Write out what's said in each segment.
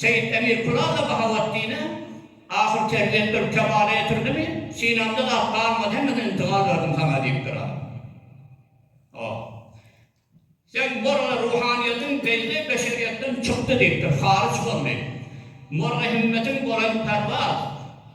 Seýit Emir Kulalla Bahaweddine ahyr terbiýet berip kemala getirdimi, synamda zat galmady, hemmeden intigal berdim saňa diýipdir a. O. Sen Morga ruhanyýetiň peýzi beşeriýetden çykdy diýipdir, haryç boldy. Morga himmetiň bolan perwaz.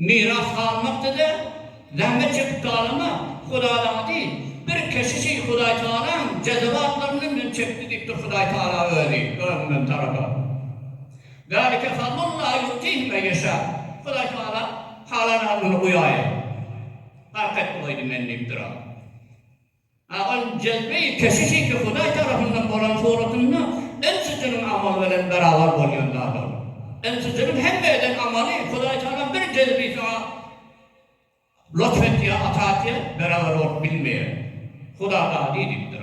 Miras galmakdyr-da, zähmet çekip talamak, Hudadandy. Bir keşişi Hudaýtagalaň jezewatlaryndan men çekdi diýipdir Hudaýtagala özi, özünden tarada. Zalike fadlullahi ýu'tihi men ýeşâ. Hudaýtagala halan alyny guýaýa. Gark etdi goýdy meni diýipdir-ä. Agyl, jezbe-i keşiş indi Hudaý tarapyndan bolan suratynda ünsüjiniň amaly bilen berabar bolýan zadydyr. Ünsüjiniň hemme eden amaly Hudaý Tagala bir jezbe-i saňa lutf etýär, ata etýär, beraber bolup bilmeýär. Huda dady diýipdir.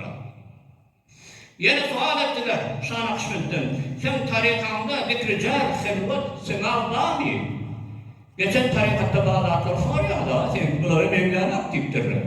Ýene sual etdiler Şa Nakşbentden, Seň tarykaňda zikri-jar, helwat, sema barmy? Geçen tarykatda bar zatlary sorýaňyz-a, seňki bulara meňzänok diýipdirler.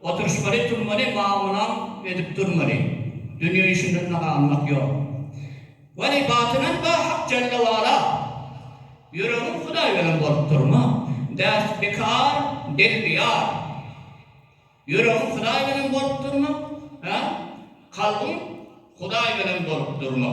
Oturyşmaly turmaly mamulam edip durmaly dünýe işindende galmak ýok weli batynan ba hak jelle wala ýüregiň hudaý beren bolup durma däst bikar dil biyar ýüregiň hudaý beren bolup durma ha kalbyň hudaý beren bolup durma.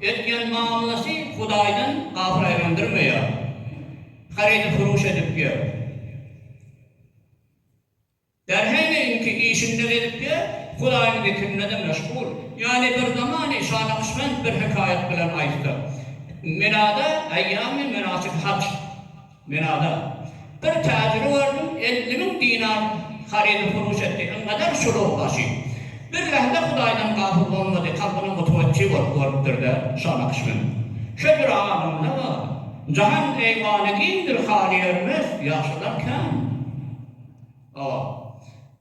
Etýän mamlasy Hudaýdan gasyraýlandyrmaýar. Harydy furuş edip ýör. Bärheneýinki işinde gezip ýör, Hudaýyň zikrinde-de meşgul. Ýagny bir zamany şanakyşbent bir hekaýat bilen aýtsak. Milada eýýamy menasyky haç. Men adam. Bir täjiri gördüm, elli müň dinar harydy furuş etdi. Iňňeler şulugy başy. Birlähde Hudaýdan gafyl bolmady, kalbynyň gutubetçi bolup görüpdir-de, şa nakyş münüp. Şo bir adamda bar. Jahan eýwany giňdir, haly ýörmez, ýagşylar kän. Hawa.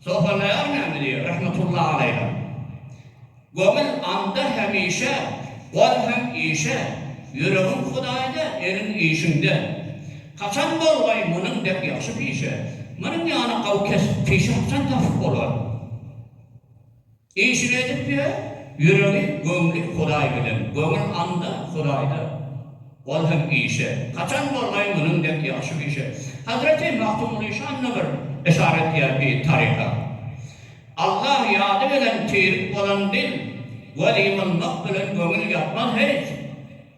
Sohurlaýar näme diýýär, rahmetullahi aleýhe, Göwün anda hemişe, gol hem işe, Ýüregiň Hudaýda, eliň işiňde. Haçan bolgaý munuň dek ýagşy pişe, Munuň ýaly gawy kesp, pişe haçan tapyp bolar? Işini edip ýör, ýüregi, göwni Hudaý bilen. Göwün anda, Hudaýda, gol hem işe. Haçan bolgaýyň munuň dek ýagşy bişe. Hazreti Magtymguly şanyna bir yşar etýär bi taryha. Allah ýady bilen tirik bolan dil, gol ýymylmak bilen göňül ýatmaz hiç.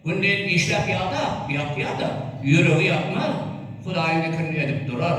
Gündiz işläp ýada, ýatýada, ýüregi ýatmaz, Hudaýyň zikirini edip durar.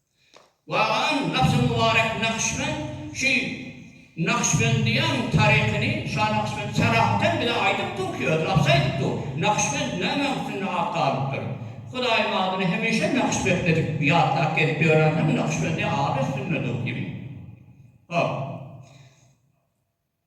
Waganyň gapysy Mubarek Nakşybend şu Nakşbendiýäň taryhyny Şa Nakşybend Salahaten bize aýdyp dur ki, öz gapysy aýdyp dur. Nakşybend nämäň üstünde at galypdyr? Hudaýyň adyny hemişe Nakşbetli edip ýatlap gezip ýörensoň Nakşbendi ady üstünde dur diýiň. Hop.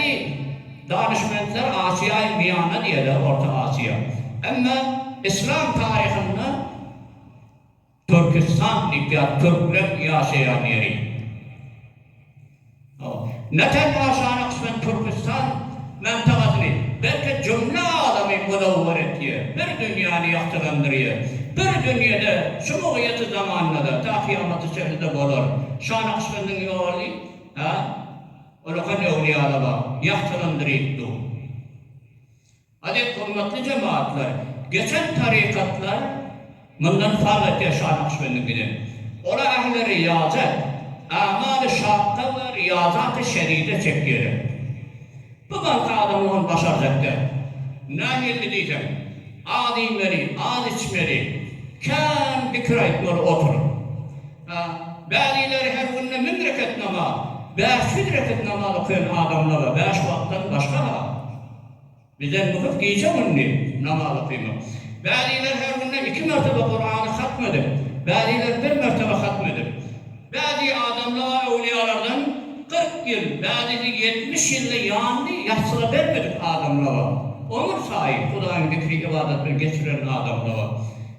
Häzirki danyşmentler Asiýaýyň Miýana diýerler, Orta Asiýa. Emma yslam taryhynda Türkistan diýip ýaz, türkleň ýaşaýan ýeri. Ne tenha şana kysmet Türkistan mantagasyny, belki jümle alamy munawwar etýär, bir dünýäni ýagtylandyrýar. Bir dünýede şu mugyýeti zamanda-da, ta kyýamata çenli-de bolar. Şana kysmetiň ýoly, hä? Olakan öwlýala bag, ýagtylandyryp dur. Aziz hormatly jemaatlar, geçen tarykatlar mundan fark etýär Şah Nakşbendiňkiden. Olar ähli riýazat, amaly şakga we riýazaty şeride çekýärler. Bu bankda adamlar ony başarjak däl. Nähilli diýseň, az iýmeli, az içmeli, kän pikir aýtmaly oturyp. Bädileri her günde müň rekat namaz, bäş ýüz rekat namaz okaýan adamlara bäş wagtdan başga-ha bizden myhys gije-gündiz namaz okaýmak. Bädileri her günde iki mertebe Kurany hatm edip, bädileri bir mertebe hatm edip. Bädi adamlara öwlüýalardan kyrk ýyl, bädisi ýetmiş ýylda ýandy, ýassyga bermedik adamlara, ömür saýy Hudaýyň zikri-ybadat bilen geçiren adamlara.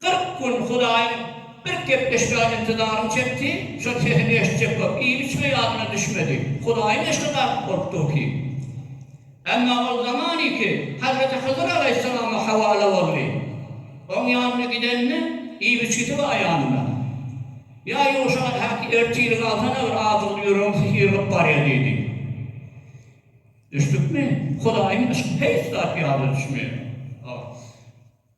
Kyrk gün Hudaýyň bir gepleşmäge intizaryny çekdi, şol sesini eşitjek bolup, iýip-içme ýadyna düşmedi. Hudaýyň eşige dartyp bolup dur ki. Emma ol zamanyky Hazreti Hyzyr alaýhyssalama hawala boldy. Oň ýanyna gidende, iýip-içgisi bar ýanynda. Ýa Ýuşa, häki, ertirik alsana bir azygyn, ýüregiň sysyrgyp barýa diýdi. Düşdükmi? Hudaýyň eşigi heýç zat ýadyna düşmeýär.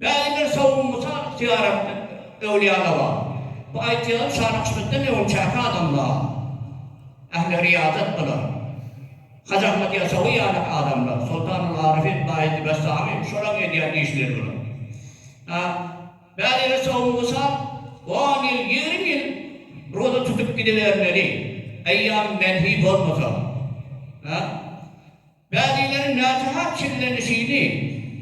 Bäri bir sowugy mysal ygtyýar etdik öwlýalaga. Bu aýtýan Şanakşbetden öňünçäki adamlar ähli riýazat bular. Hajy Ahmet Ýasawy ýaly adamlar, Soltanul Aryfin, Baýezid Bestami, şolaň edýän işleri bular. A. Bäri bir sowugy mysal, on ýyl, ýigrimi ýyl roza tutup gidibermeli, eýýam menhi bolmasa. A. Bäbeleriň näsahat çillenişini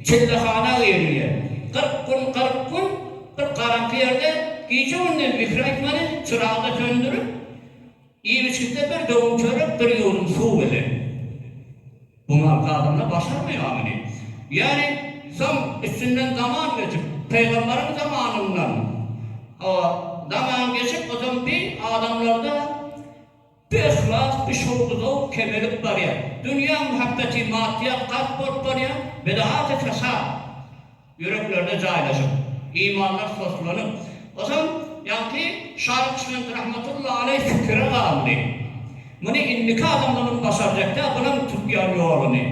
çillehana geýerýär. Kyrk gün, kyrk gün bir garaňky ýerde gije-gündiz zikir aýtmaly, çyragda söndürip, iýip-içgitde bir döwüm çörek, bir ýuwdum suw bilen. Bu mal gadamlar başarmaýar muny. Ýöne soň üstünden zaman geçip, pygamberiň zamanyndan, hawa, zaman geçip, ozan bi adamlarda Bu yhlas, bu şowly zowk kemelip barýar. Dünýä muhabbetin maddiýat galp bolup barýar, bidahat-y fesat ýüreklerde jaýlaşyp, imanlar soslanyp, ysam ýaňky Şa Nakşbend rahmetullahi aleý fikire galdy, Muny indiki adamlarym başarjak däl, bulam tutýan ýoluny.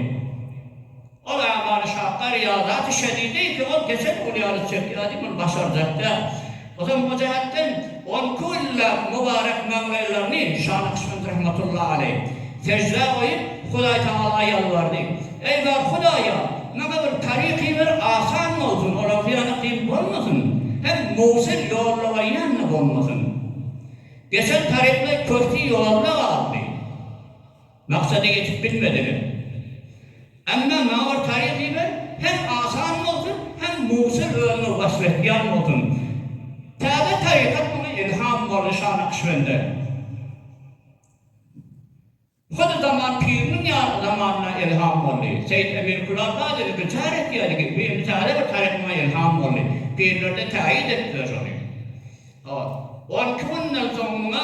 Ol Amany şapka Ryýaza düşedi, diýki, ol geçen gün ýaly çekýärdi, muny başarjak däl. Ozam o jähetden on iki günläp mübarek maňlaýlaryny Şah Nakşbend rahmetullahi aleý seždä goýup, Hudaýtagala ýalbardy, Eý, bar Hudaýa, maňa bir taryk iber, asan bolsun, olar zyýana kyn bolmasyn, hem Mowsil ýollaga ýanna bolmasyn. Geçen taryklay köhti ýolda galdy. Maksada ýetip bilmediler. Emma maňa bir taýyn diber, hem asan bolsun, hem Musul özüňe wasp etýän bolsun. Täze tarykat maňa ilham boldy, Şa Nakşbende. Hoja Zaman piriniň ýa zamanynda ilham boldy. Seýit Emir Kulaka da zikir-çar etýärdi ki, bu indi täze bir taryk maňa ilham boldy. Pirler-de täýit etdiler şony. Hop. On iki günden soň muňa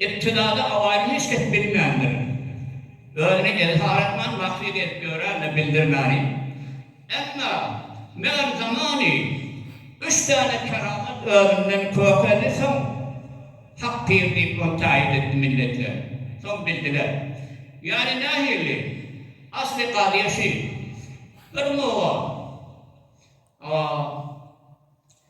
Ibtidada Awaýyny hiç kes bilmändir. Özüni ezhar etmän, maksyd edip ýörändir, bildirmäni. Emma, meger zamany üç sene keramat özünden kökedi, soň Hak pir diýip ony taýyt etdi milletler. Soň bildiler. Ýagny nähili? Asly kazyýa şi. Bir muga. A.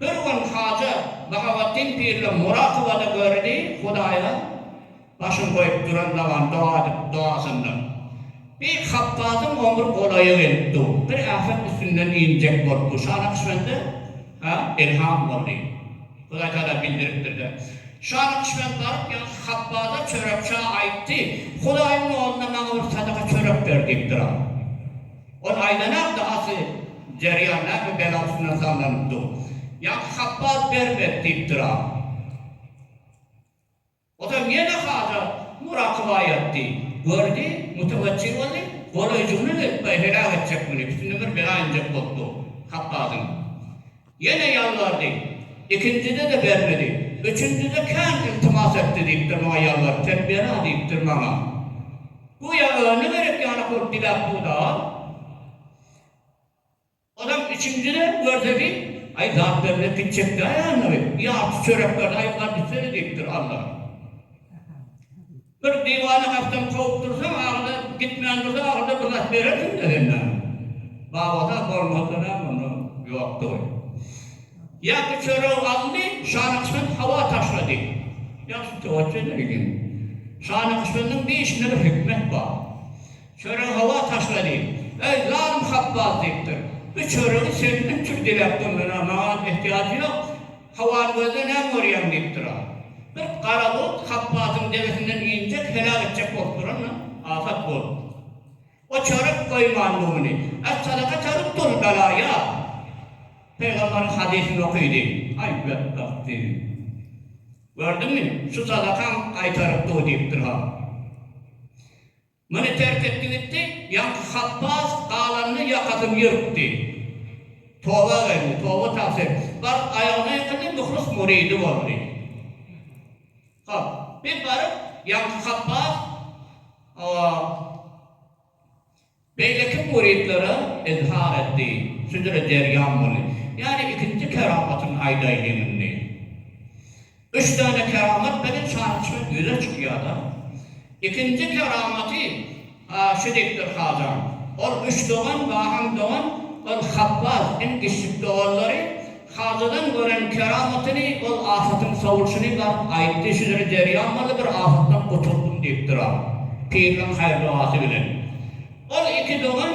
Bir gün Haja Bahaweddin Pille murakybada gördi, Hudaýa başyn goýup duran daban doga edip dogasynda, Beýik Hapbazyň omry golaýa gelip dur, bir äfet üstünden injek bolup dur. Şa Nakşbende ha ilham boldy. Hudaý Tagala bildiripdir-de. Şa Nakşbend baryp ýaňky Hapbaza çörek-çaý aýtdy, Hudaýyň ýolunda maňa bir sadaka çörek ber diýipdir-a. Ol aýlanar dahaty derýa näme bela üstüne sallanyp dur. Ýaňky Habbaz bermek diýipdir-a. Ozal ýene haja murakyba ýatdy. Gördi, müteweçjil boldy, golaýjygyna gelip, baý heläk etjek muny, üstüne bir bela injek bolup dur Habbazyň. Ýene ýalbardy. Ikinjide-de bermedi. Üçünjide kän yltymas etdi diýipdir maňa ýalbaryp, Sen ber-a diýipdir maňa. Göýä özüne gerek ýanak bolup diläp dur-da. Ozam üçünjide görse ki, Aý, zat bermez ki, çekdä ýanygy, ýarty çörek berdi, aý, gadyşsene diýipdir Alla. Bir diwany hasdan kowup dursaň aňyna gitmän dursa ahyrda bir zat berersiňdä sen name. Babada bolmasalam onda ýokdy goý. Ýaky çörew aldy Şanakşbend hawa taşlady. Ýagşy towatjene ilim. Şanakşbendiň bir işinde bir hikmet bar. Çörew hawa taşlady. Eý zalym Hapbaz diýipdir. Bu çöregi sekiz üç ýüz diläp durunana maňa ehtiýajy ýok. Howany gözle, näme görýäň? diýip duran. Bir gara bult Hapbasyň degesinden injek, heläk etjek bolup duran-da, afat bolupdyr. O çörek goýman bu güni. Essadaka çörek dur, bela ýap. Pygamberiň hadysyny okydy. Aý, betbagt! diýdi. Gördüňmi, şu sadakaň gaýtaryp dur diýipdir-ha. Muny terk etdi gitdi, ýaňky Hapbaz galanyny ýakasyn ýyrtdy. Toba geldi, toba tagsyr. Baryp aýagyna ýykyldy, myhlis muridi boldy. Hop, bir baryp, ýaňky Hapbaz oba beýleki muridlere izhar etdi. Süzüle derýam boldy. Ýani ikinji keramatyny aýdaýlyň indi. Üç sany keramat bilen şanly-şöhrat ýüze çykýar-da. Ikinji keramaty şu diýipdir Hajaň, Ol üç dogan, Bahaň dogan, ol Habbaz, iň kiçijik doganlary. Hajadan gören keramatyny, ol afatyň sowulşyny baryp aýtdy, Şu ýyl derýa maly bir afatdan gutuldym diýipdir-ä, piriniň haýyr-dogasy bilen. Ol iki dogan.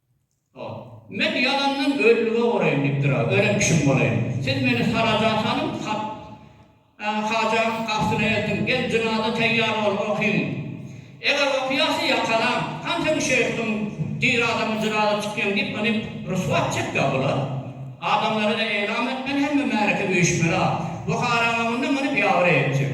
Men ýalandan ölülige ugaraýyn diýipdir-ä, ölen kişim bolaýyn. Siz meni saraja salyň, sat Hajanyň gastyna eltiň, gel jynaza teýýar bol, okyň. Eger okýasy ýakalaň, han seň şeýhligiň diri adamyň jynaza çykýaň diýip ony ryswa etjek-ä bular. Adamlara-da eýlam etmeli, hemme märeke üýşmeli-ä. Buhara öňünde muny biabry etjek.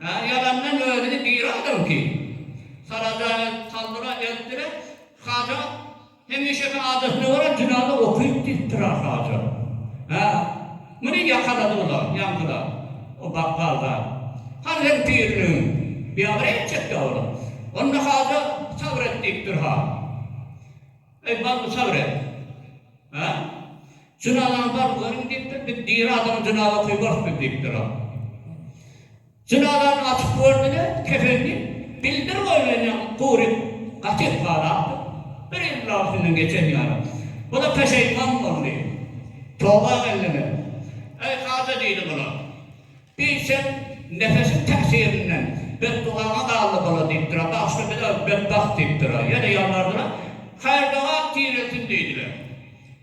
Her ýalandan özüni biri adam ki. Salada saldyra eltdirer. Haja hemişeki adatyna görä jynaza okyp gitdir a Haja. Hä, muny ýakalady bula, ýaňkylar, o bakgal zat. Hany seň piriniň biabry etjek ýaly. Onda Haja sabyr et diýipdir ha. Eý, bar bu sabyr et. Hä? Jynaz agzalary görüň diýipdir, biz diri adama jynaz okyberk biz diýipdir ol. Jynazany açyp gördüler, kefenini bildir goýlan ýaly gury gaty ysgalapdyr. Bir ýyllaň üstünden geçen ýaly. Bu-da peşeýman boldy. Toba geldiler. Eý haja diýdi bular. Bi sen nefesiň täsirinden betdugaňa galdy bula diýipdir-ä, bagyşla biz-ä betbagt diýipdir-ä. Ýene ýalbardylar. Haýyrdoga tirelsin diýdiler.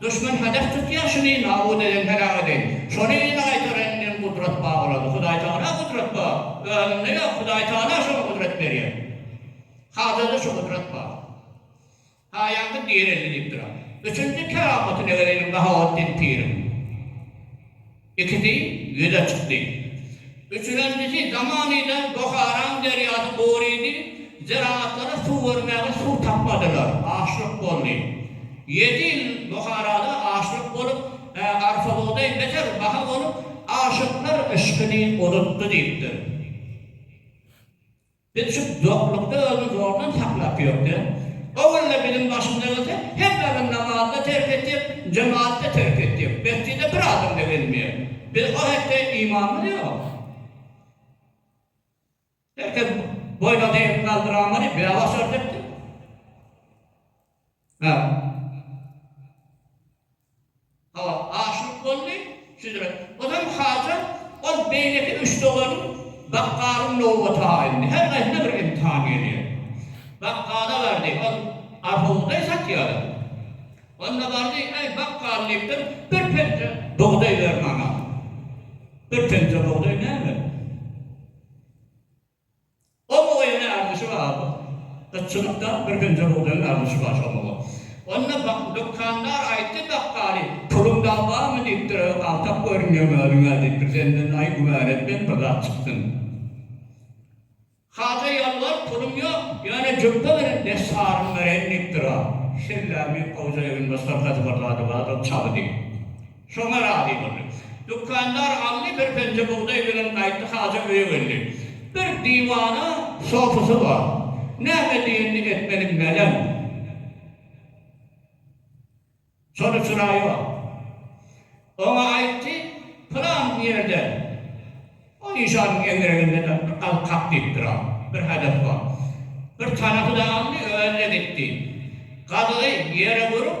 Duşman hedef tutýar şuny nabud eden heläk edeýin. Şony ýene gaýtar endiň gudrat ba bolady hudaý tagala gudrat ba özüňde ýok hudaý tagala şony gudrat berýär hazirde şu gudrat ba haýaňky direldi diýipdir ha üçünji keramatyny edeýin Bahawatdin piriň. Ikisi ýüz açykdy. Üçürenjisi zamanyda Buharaň derýasy gurydy, zeragatlara suw bermäge suw tapmadylar, açlyk boldy. Ýedi ýyl Buharada açlyk bolup, arpa bugdaý beter baha bolup, aşyklar yşkyny unutdy diýipdir. Biz şu doklukda özüni zordan saklap ýörkä, owal-da biziň başymyza gelse, hemmämiz namazy-da terk etjek, jematy-da terk etjek, mesjide bir adam-da gelmeýär. Biz o hetde imanymyz ýok. Her kes boýun-atyny galdyramady, bäbaş örtekdi. Merhum. Hawa, aşyryp boldy. Şüdre. Ozal Hajar, ol beýleki üç doganyň bakgalyň nowbaty aýldy. Her gaýsyna bir imtihan gelýär. Bakgala bardy. Ol arhobugdaý satýardy. Onda bardy, Äý, bakgal, diýipdir, bir penje bugdaý ber maňa. Bir penje bugdaý näme? Oba oýuny arzyşy bar Gytçylykda bir hünje bugdaýyň arzyşy bar şol oba. Onda bak dükandar aýtdy bakgaly Puluň dag barmy diýipdir öe galtak görünýeň özüňe diýipdir senden aý güman etmez bir zat çyksyn. Haja ýolbars pulum ýok ýöne jübbe bilen bes sarym bereýin diýipdir a şellämi gowja eginbaş hyrkasy bir zady bardyr çaby diýip. Şoňa razy boldy. Dükandar aldy, bir penje bugdaý bilen gaýtdy, Haja öýe geldi. Bir diwana sofasy bar. Näme diýenini etmeli meleň. Şony çyraýyp al. Oňa aýtdy, pylan ýerde, o nyşanyň eňňereginde daş bir gazyk kak diýip dur-a, bir hadas bar. Bir tanasy-da aldy, özi-de gitdi. Gazygy ýere urup.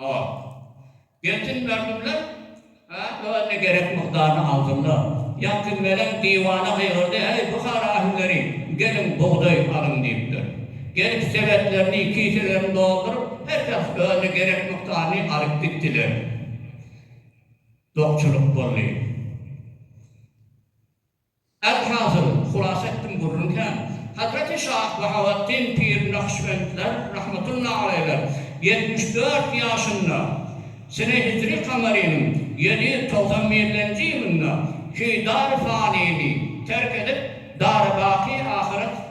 Ol. Gelsin mördümler! A, özüne gerek mukdaryny alsynlar! Ýaňky melem diwana gygyrdy, Eý, Buhara ähilleri, geliň, bugdaý alyň! diýipdir. Gelip, sebetlerini, kiselerini dolduryp, her şahs özüne gerek mukdaryny alyp gitdiler. Dokçulyk boldy. Elhasyl, hulasa etdim gürrüň kän. Hazreti Şah Bahaweddin pir Nakşbendler, rahmetullahi aleýler, ýetmiş dört ýaşynda, sene hijri kamarynyň ýedi ýüz togsan birlenji ýylynda iki dar fanyny terk edip, dary baky ahyret,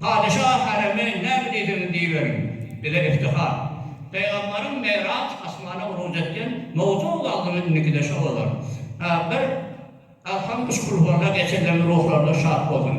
Patyşa Hareme näme diýseňiz diýiberiň, bize iftihar. Pygamberiň Meýraç asmana uruj etgen mowzugy galdymy indikide şo bolar. Bir Alham üç Kulhuwalla geçenleriň ruhlary-da şat bolsun.